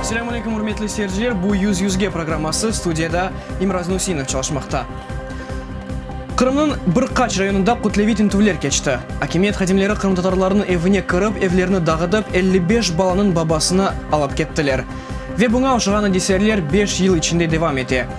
Selâm aleyküm, ürmetli seyirciler! Bu Yüz yüzge programması, studiyada İmraz Nusinov çalışmaqta. Qırımnıñ bir qaç rayonında kütleviy tintüvler keçti. Akimiyet hadimleri qırımtatarlarnıñ evine kirip, evlerini dağıtıp, elli beş balanıñ babasını alıp kettiler. Ve buña oşağan adiseler beş yıl içinde devam ete.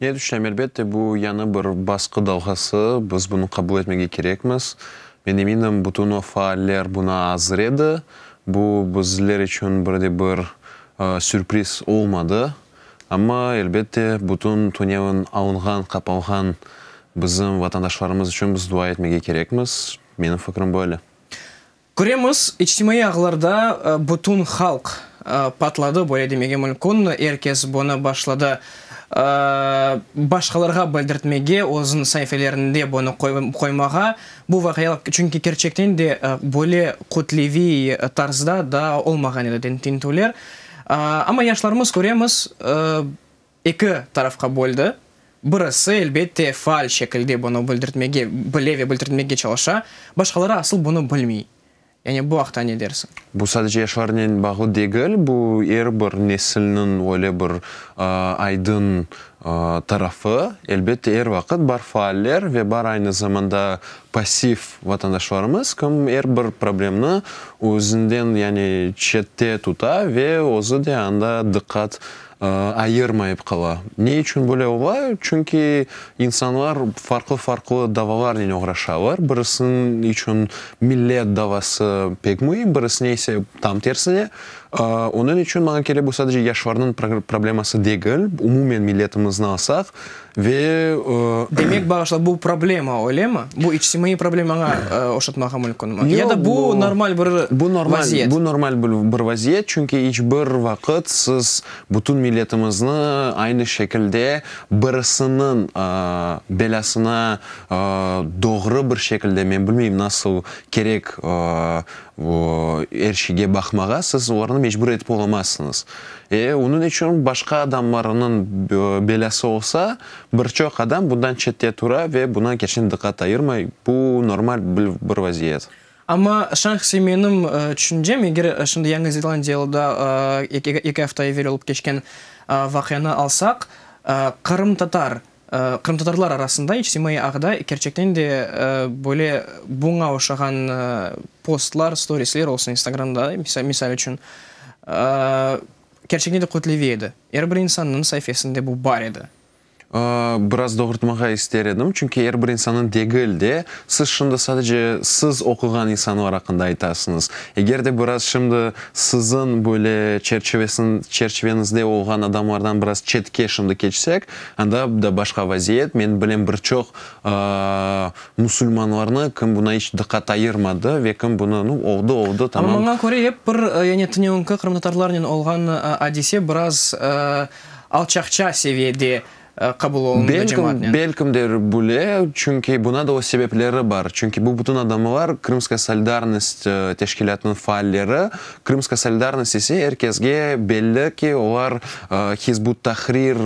Ne tüşlem, elbette, bu yañı bir basqı dalğası, biz bunı qabul etmege kerekmiz. Men eminim, bütün o faaller buna azır edi. Bu bizler içün bir de bir sürpriz olmadı. Amma, elbette, bütün tünevin alınğan, qapalğan bizim vatandaşlarımız içün biz dua etmege kerekmiz. Menim fikrim böyle. Köremiz, içtimaiy ağlarda bütün halq patladı, böyle demege mülkün, er kes bunı başladı başqalarğa bildirtmege, özüniñ saifelerinde bunı qoymağa, bu vaqialar, çünki kerçekten de böyle kütleviy tarzda daa olmağan edi tintüvler, amma yaşlarımız, köremiz, Eki tarafqa böldi. Birisi, elbette, faal şekilde bunı bildirtmege, bile ve bildirtmege çalışa, başqaları asıl bunı bilmey. Yani bu aqta ne dersiñ? Bu sadece yaşlarnen bağlı degil, bu er bir nesilniñ öyle bir aydın tarafı. Elbette, er vaqıt bar faaller ve bar aynı zamanda passiv vatandaşlarımız, kim er bir problemni özünden, yani çette tuta ve özü de anda diqqat ayırmayıp qala. Ne içün böyle ola? Çünki insanlar farqlı-farqlı davalarnen oğraşalar. Birisiniñ içün millet davası pek müim, birisine ise tam tersine. Onıñ içün maña kele, bu sadece yaşlarnıñ probleması degil, umumen milletimizni alsaq, Ve o. Demek, bağışla, bu problema, öylemi? Bu içtimaiy problema, aña oşatmağa mülkünmi? Ya da bu normal bir vaziyet? Bu normal bir vaziyet, çünki iç bir vaqıt siz bütün milletimizni aynı şekilde birisiniñ belâsına doğru bir şekilde, men bilmeyim, nasıl kerek er şeyge baqmağa, siz olarnı mecbur etip olamazsıñız. E, onıñ içün başqa adamlarnıñ belâsı olsa, bir çoq adam bundan çette tura ve buña keçken diqqat ayırmay, bu normal bir vaziyet. Amma şahsiy menim tüşüncem, eger şimdi Yañı Zelandiyalıda eki afta evel olıp keçken vaqianı alsaq, qırımtatar Qırımtatarlar arasında içtimaiy ağda kerçekten de böyle buña oşağan postlar, storisler olsun instagramda, misal içün, kerçekten de kütleviy edi. Er bir insannıñ saifesinde bu bar edi. Biraz doğrultmağa ister edim, çünki er bir insannıñ degil de, siz şimdi sadece siz oquğan insanlar aqqında aytasıñız. Eger de biraz şimdi siziñ böyle çerçivesinz, çerçiveñizde olğan adamlardan biraz çetke şimdi keçsek, Anda da başqa vaziyet. Men bilem bir çoq musulmanlarnı, kim buna iç diqqat ayırmadı ve kim bunı, nu, oldı, oldı, tamam. Amma maña köre ep bir, yani tünevnki qırımtatarlarnen olğan adise biraz alçaqça seviyede qabul olundı cemaatnen. Belkim de böyle, çünki buna da öz sebepleri bar. Çünki bu bütün adamlar Krımskaya solidarnost teşkilâtınıñ faalleri, Krımska solidarnost ise er kesge belli ki, olar Hizb ut-Tahrir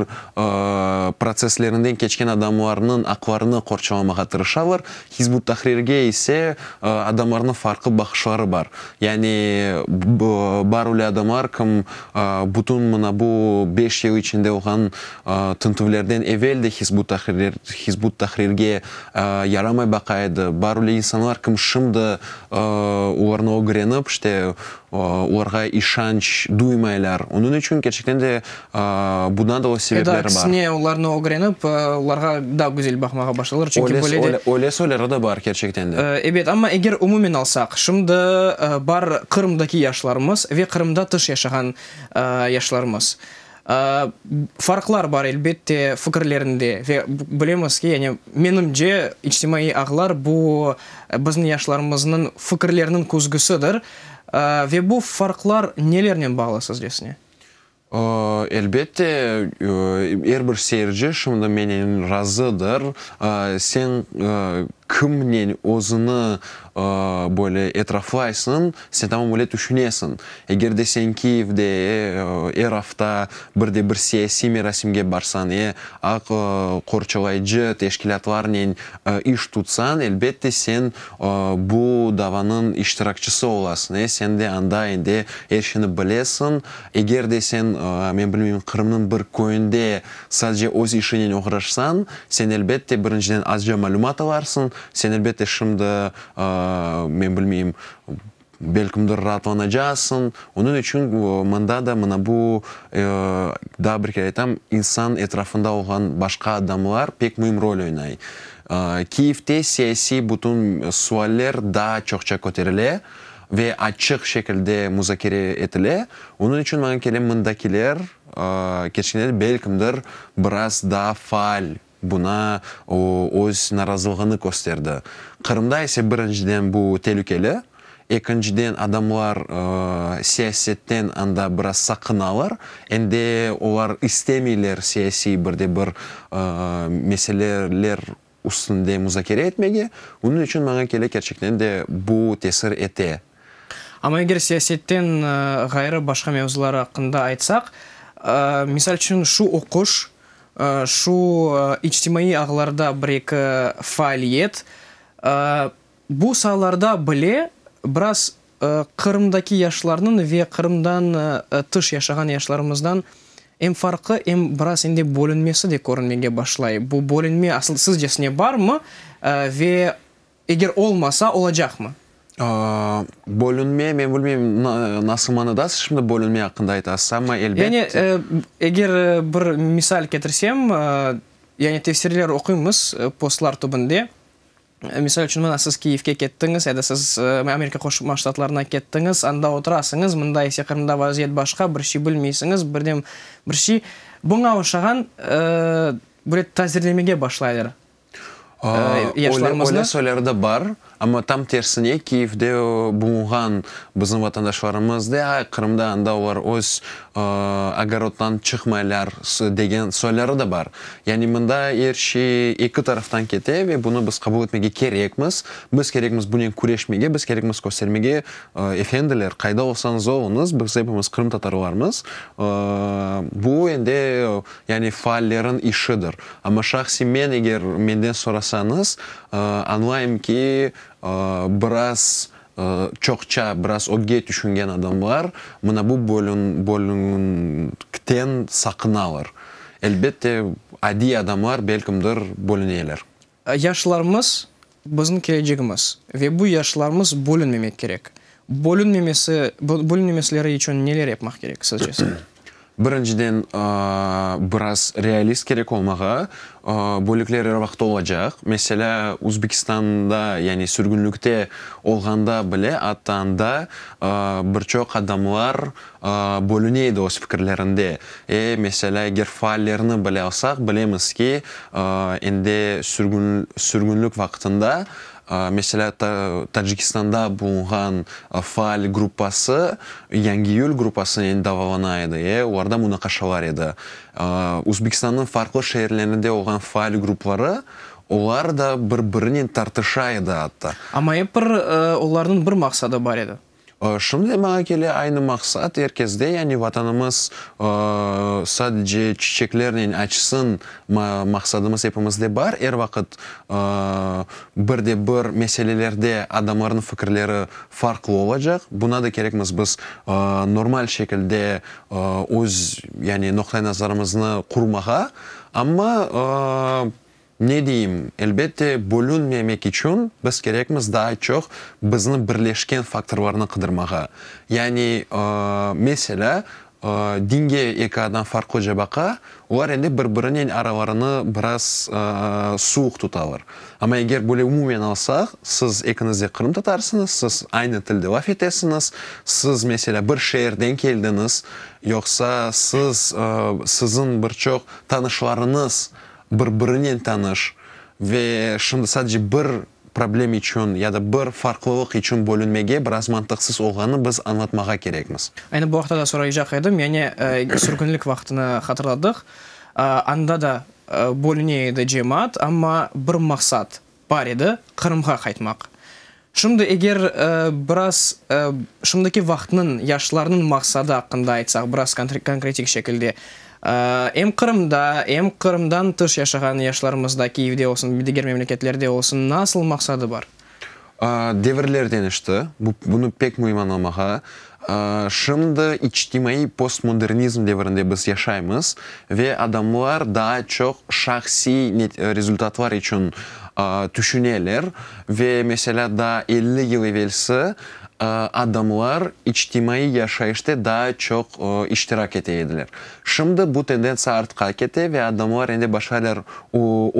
protsesslerinden keçken adamlarnıñ aqlarını qorçalamağa tırışalar. Hizb ut-Tahrirge ise adamlarnıñ farqlı baqışları bar. Yani bar öyle adamlar kim bütün mına bu beş yıl içinde olğan tintüvlerden evel de Hizb ut-Tahrirge yaramay baqa edi. Bar öyle insanlar kim şimdi olarnı ögrenip, işte, olarğa işanç duymaylar. Onıñ içün, kerçekten de, bundan da öz sebepleri bar. Ya da aksine, olarnı ögrenip, olarğa daa güzel baqmağa başlaylar, çünki böyle de. Öyle, öyle soyları da bar, kerçekten de. Ebet, amma eger umumen alsaq, şimdi bar Qırımdaki yaşlarımız ve Qırımda tış yaşağan yaşlarımız. Farqlar bar, elbette, fikirlerinde. Ve bilemiz ki, yani menimce, içtimaiy ağlar bu, bizni yaşlarımıznıñ fikirleriniñ küzgüsidir. Ve bu farqlar nelernen bağlı sizcesine? Elbette, er bir seyirci şimdi menen razıdır. Sen kimnen özüni böyle etraflaysıñ, Sen tamam öyle tüşünesiñ. Eger de sen Kiyevde er afta bir de bir siyasiy merasimge barsañ e aq qorçalayıcı teşkilâtlarnen iş tutsañ, elbette, sen bu davanıñ iştirakçisi olasıñ e sen de anda endi er şeyni bilesiñ. Eger de sen, men bilmeyim, Qırımnıñ bir köyünde sadece öz işiñnen oğraşsañ, sen, elbette, birinciden azca malümat alarsıñ, sen, elbette, şimdi Men bilmeyim, belkimdir raatlanacaqsıñ. Onıñ içün mında da mına bu, daa bir kere aytam, insan etrafında olğan başqa adamlar pek müim rol oynay. Kyivde siyasiy bütün sualler daa çoqça köterile ve açıq şekilde muzakere etile. Onıñ içün maña kele, mındakiler keçken yıl belkimdir biraz daa faal. Buna o, öz narazılığını kösterdi. Qırımda ise, birinciden, bu telükeli, ekinciden, adamlar siyasetten anda biraz saqınalar, em de olar istemeyler siyasiy bir de bir meseleler üstünde muzakere etmege, bunıñ içün, maña kele, kerçekten de bu tesir ete. Amma eger siyasetten ğayrı başqa mevzular aqqında aytsaq, misal içün, şu oquş, şu içtimaiy ağlarda bir-eki faaliyet, bu saalarda bile biraz Qırımdaki yaşlarnıñ ve Qırımdan tış yaşağan yaşlarımızdan em farqı, em biraz endi bölünmesi de körünmege başlay. Bu bölünme asıl sizcesine barmı ve Eger olmasa, olacaqmı? Bölünme, men bilmeyim, nasıl manada siz şimdi bölünme aqqında aytasız, amma elbet. Yani, eger bir misal ketirsem, yani tefsirler oquymız postlar tübünde. Misal içün, mına siz Kiyevge kettiñiz ya da siz Amerika Qoşma Ştatlarına kettiñiz, anda oturasıñız, mında ise Qırımda vaziyet başqa, bir şey bilmeysiñiz, birden bir şey. Buña oşağan böyle tazirlemege başlaylar. Öyle soylar da bar, amma tam tersine, Kiyevde bulunğan bizim vatandaşlarımız de, Qırımda, anda olar öz ogorodından çıqmaylar, degen soyları da bar. Yani mında er şey eki taraftan kete ve bunı biz qabul etmege kerekmiz. Biz kerekmiz bunen küreşmege, biz kerekmiz köstermege, efendiler, qayda olsañız oluñız, biz hepimiz qırımtatarlarmız. Bu endi Yani faallerniñ işidir. Amma şahsiy men, eger menden sorasañız, añlayım ki, biraz çoqça, biraz ögge tüşüngen adamlar mına bu bölüñkten saqınalar. Elbette, adiy adamlar belkimdir bölüneler. Yaşlarımız, bizim kelecegimiz ve bu yaşlarımız bölünmemek kerek. Bölünmemesi, bölünmemesleri içün neler yapmaq kerek sizce? Birinciden, biraz realist kerek olmağa. Bölükler er vaqıt olacaq. Meselâ, Uzbekistanda, yani sürgünlikte olğanda bile, atta anda bir çoq adamlar Bölüne edi öz fikirlerinde. E, meselâ, eger faallerni bile alsaq, bilemiz ki, endi sürgünlik vaqtında, meselâ, Tacikistanda bulunğan faal gruppası, Yangiiyül grupasınen davalana edi, e, olarda munaqaşalar edi. Özbekistannıñ farqlı şeerlerinde olğan faal grupları, olar da bir-birinen tartışa edi, atta. Amma ep bir olarnıñ bir maqsadı bar edi. Şimdi de maña kele aynı maqsat, er kezde, yani Vatanımız sadece çiçeklernen açsın maqsadımız epimizde bar, er vaqıt bir de bir meselelerde adamlarnıñ fikirleri farqlı olacaq, buna da kerekmiz biz normal şekilde öz, yani noqta-i nazarımıznı qurmağa, amma Ne deyim, elbette, bölünmemek içün biz kerekmiz daa çoq bizni birleşken faktorlarnı qıdırmağa. Yani, meselâ, dinge eki adam farqlıca baqa, olar endi bir-birinen aralarını biraz suvuq tutalar. Amma eger böyle umumen alsaq, siz ekiñiz de qırımtatarsıñız, siz aynı tilde laf etesiñiz, siz, meselâ, bir şeerden keldiñiz, yoqsa siz, siziñ bir çoq tanışlarıñız bir-birinen tanış ve şimdi sadece bir problem içün ya da bir farqlılıq içün bölünmege biraz mantıqsız olğanını biz añlatmağa kerekmiz. Aynı bu aqta da soraycaq edim, yani sürgünlik vaqtını hatırladıq, anda da bölüne edi cemaat, amma bir maqsat, Bar edi, Qırımğa qaytmaq. Şimdi eger biraz şimdiki vaqıtnıñ, yaşlarnıñ maqsadı aqqında aytsaq, biraz konkretik şekilde, em Qırımda, em Qırımdan tış yaşağan yaşlarımızda, Kiyevde olsun, diger memleketlerde olsun, nasıl maqsadı bar? Devirler deñişti, bunı pek müim añlamağa. Şimdi içtimaiy postmodernizm devrinde biz yaşaymız ve adamlar daa çoq şahsiy rezultatlar içün tüşüneler ve, meselâ, daa elli yıl evelsi adamlar içtimaiy yaşayışta daa çoq iştirak ete ediler. Şimdi bu tendentsiya artqa kete ve adamlar endi başqalar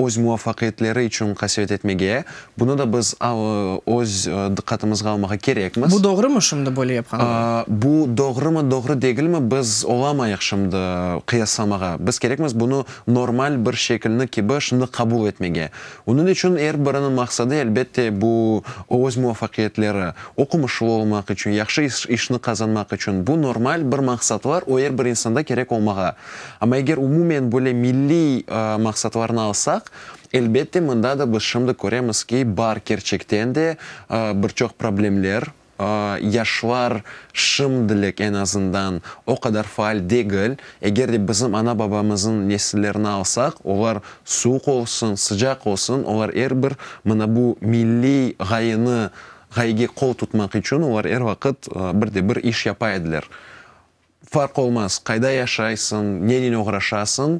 öz muvafaqiyetleri içün qasevet etmege, bunı da biz öz diqqatımızğa almağa kerekmiz. Bu doğrumı şimdi böyle yapqanları? Bu doğrumı, doğru degilmi, biz olamayıq şimdi qıyaslamağa. Biz kerekmiz bunı normal bir şekilni kibi şimdi qabul etmege. Onıñ içün er biriniñ maqsadı, elbette, bu, öz muvafaqiyetleri. Oqumuşlı olmaq içün, yahşı işni qazanmaq içün, bu, normal bir maqsatlar, o, er bir insanda kerek olmağa. Amma eger umumen böyle milliy maqsatlarnı alsaq, elbette, mında da biz şimdi köremiz ki, bar kerçekten de bir çoq problemler. Yaşlar şimdilik eñ azından o qadar faal degil. Eger de bizim ana-babamızın nesillerini alsaq, olar suvuq olsun, sıcaq olsun, olar er bir mına bu milliy ğayeni, ğayege qol tutmaq içün olar er vaqıt bir de bir iş yapa ediler. Farq olmaz, qayda yaşaysıñ, nenen oğraşasıñ,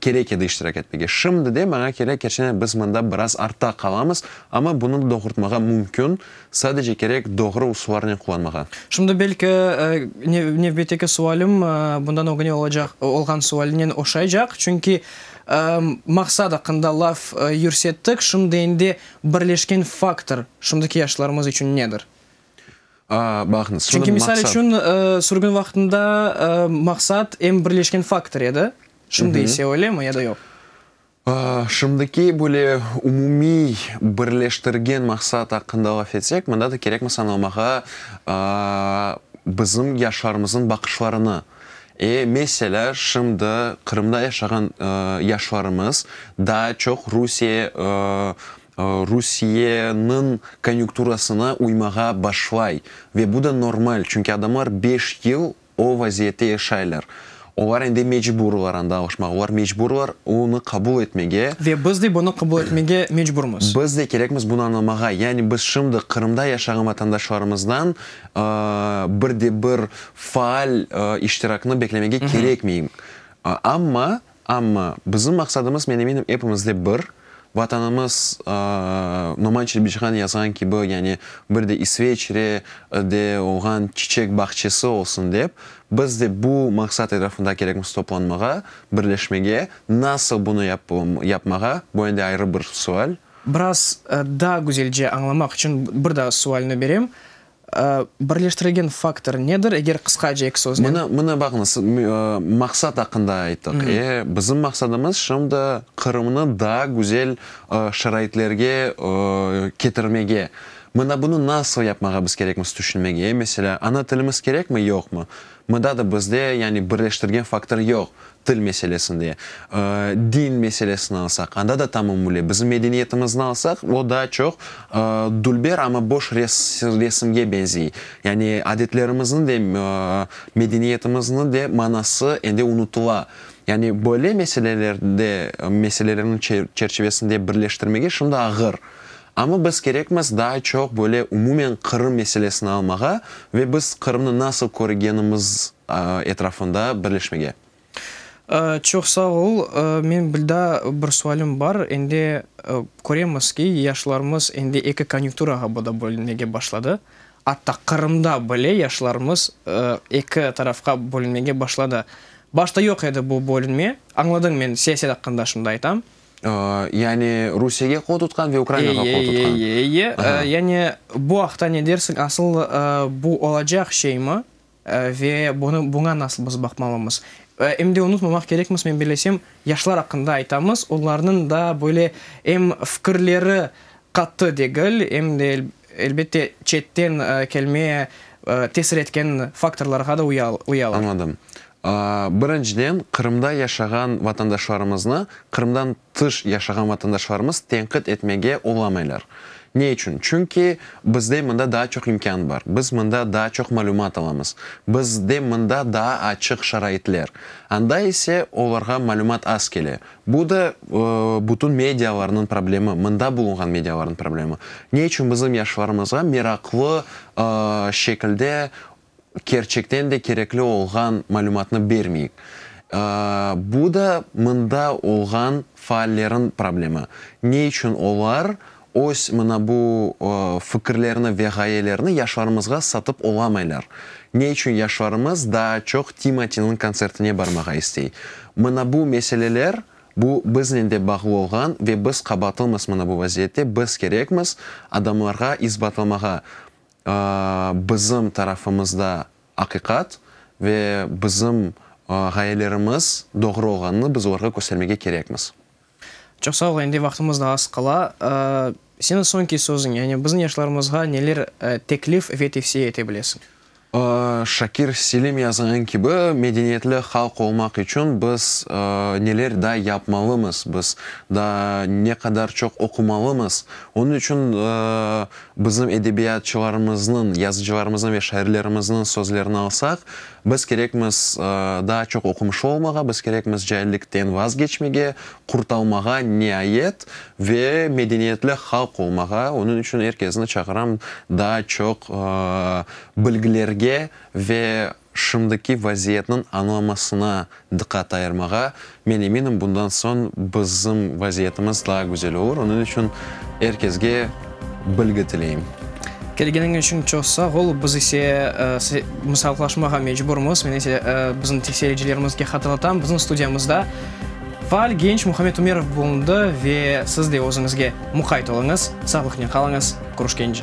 kerek edi iştirak etmege. Şimdi de, maña kere, kerçenen biz mında biraz artta qalamız, amma bunı doğurtmağa mümkün, sadece kerek doğru usullarnen qullanmağa. Şimdi, belki, nevbetteki sualim bundan ögüne olacaq, olğan sualinen oşaycaq, çünki maqsat aqqında laf yürsettik, şimdi endi birleşken faktor şimdiki yaşlarımız içün nedir? Çünki, misal içün, sürgün vaqtında maqsat em birleşken faktor edi, şimdi ise öylemi ya da yoq? Şimdiki böyle umumiy birleştirgen maqsat aqqında laf etsek, mında da kerekmiz añlamağa bizim yaşlarımıznıñ baqışlarını. E, meselâ, şimdi Qırımda yaşağan yaşlarımız daa çoq Rusiye Rusiyeniñ konyukturasına uymağa başlay. Ve bu da normal, çünki adamlar beş yıl o vaziyette yaşaylar. Olar endi mecburlar anda alışmağa, olar mecburlar onı qabul etmege. Ve biz de bunı qabul etmege mecburmız. Biz de kerekmiz bunı añlamağa. Yani biz şimdi Qırımda yaşağan vatandaşlarımızdan bir de bir faal iştiraknı beklemege kerekmeyim. Amma Amma bizim maqsadımız, men eminim, epimizde bir, Vatanımız, Noman Çelebicihan yazğan kibi, yani bir de İsveçre de olğan çiçek bağçesi olsun dep, biz de bu maqsat etrafında kerekmiz toplanmağa, birleşmege. Nasıl bunı yapmağa, bu endi ayrı bir sual. Biraz daa güzelce añlamaq içün bir daa sualni berem, Birleştirilgen faktor nedir, eger qısqaca eki söznen? Mına, mına baqıñız, maqsat aqqında ayttık. E, bizim maqsadımız şimdi Qırımnı daa güzel şaraitlerge ketirmege. Mına bunı nasıl yapmağa biz kerekmiz tüşünmege. E, meselâ, ana tilimiz kerekmi, yoqmı? Mında da bizde, yani birleştirgen faktor yoq, til meselesinde. Din meselesini alsaq, anda da tamamüle. Bizim medeniyetimizni alsaq, o daa çoq dülber, amma boş resimge benzey. Yani adetlerimizniñ de, medeniyetimizni de manası endi unutula. Yani böyle meselelerde, meselelerniñ çerçivesinde birleştirmege şimdi ağır. Amma biz kerekmiz daa çoq böyle umumen Qırım meselesini almağa ve biz Qırımnı nasıl körgenimiz etrafında birleşmege. Çoq sağ ol. Men bilda bir sualim bar. Endi köremiz ki, yaşlarımız endi eki konyukturağa bu da bölünmege başladı. Atta Qırımda bile yaşlarımız eki tarafqa bölünmege başladı. Başta yoq edi bu bölünme. Añladım men siyaset aqqında şimdi aytam. Yani Rusiyege qol tutqan ve Ukrainağa qol tutqan. Eye, eye, eye, eye. Yani bu aqta ne dersiñ? Asıl bu olacaq şeymi ve buña nasıl biz baqmalımız? Em de unutmamaq kerekmiz, men bilesem, yaşlar aqqında aytamız, olarnıñ da böyle em fikirleri qattı degil, em de, Elbette, çetten kelme tesir etken faktorlarğa da uyalar. Añladım. Birinciden, Qırımda yaşağan vatandaşlarımıznı Qırımdan tış yaşağan vatandaşlarımız tenqit etmege olamaylar. Ne içün? Çünki bizde mında daa çoq imkân bar, biz mında daa çoq malümat alamız, bizde mında daa açıq şaraitler. Anda ise olarğa malümat az kele, Bu da bütün medialarnıñ problemi, mında bulunğan medialarnıñ problemi. Ne içün bizim yaşlarımızğa meraqlı şekilde kerçekten de kerekli olğan malümatnı bermeyik? Bu da mında olğan faallerniñ problemi. Ne içün olar Öz mına bu fikirlerni ve ğayelerini yaşlarımızğa satıp olamaylar. Ne içün yaşlarımız daa çoq Timatiniñ kontsertine barmağa istey? Mına bu meseleler, bu biznen de bağlı olğan ve biz qabaatlımiz mına bu vaziyette, biz kerekmiz, adamlarğa isbatlamağa bizim tarafımızda aqiqat ve bizim ğayelerimiz doğru olğanını biz olarğa köstermege kerekmiz. Çoq sağ ol, endi vaqtımız da az qala. Seniñ soñki sözüñ, yani bizim yaşlarımızğa neler teklif ve tevsiye ete bilesiñ? Şakir Selim yazğan kibi, medeniyetli halq olmaq içün biz neler daa yapmalımız, biz daa ne qadar çoq oqumalımız. Onıñ içün bizim edebiyatçılarımıznıñ, yazıcılarımıznıñ ve şairlerimizniñ sözlerini alsaq, Biz kerekmiz daa çoq oqumışı olmağa, biz kerekmiz caillikten vazgeçmege, qurtalmağa, niayet, ve medeniyetli halq olmağa. Onıñ içün er kesni çağıram daa çoq bilgilerge ve şimdiki vaziyetniñ añlamasına diqqat ayırmağa. Men eminim, bundan soñ bizim vaziyetimiz daa güzel olur. Onıñ içün er kesge bilgi tileyim. Kelgeniñ içün çoq sağ ol. Biz ise saalıqlaşmağa mecburmız. Men ise bizim tekseyiricilerimizge hatırlatam, bizim studiyamızda faal genç Muhammed Umerov bulundı ve siz de özüñizge muqayt oluñız. Sağlıqnen qalıñız, Kuruşkenci.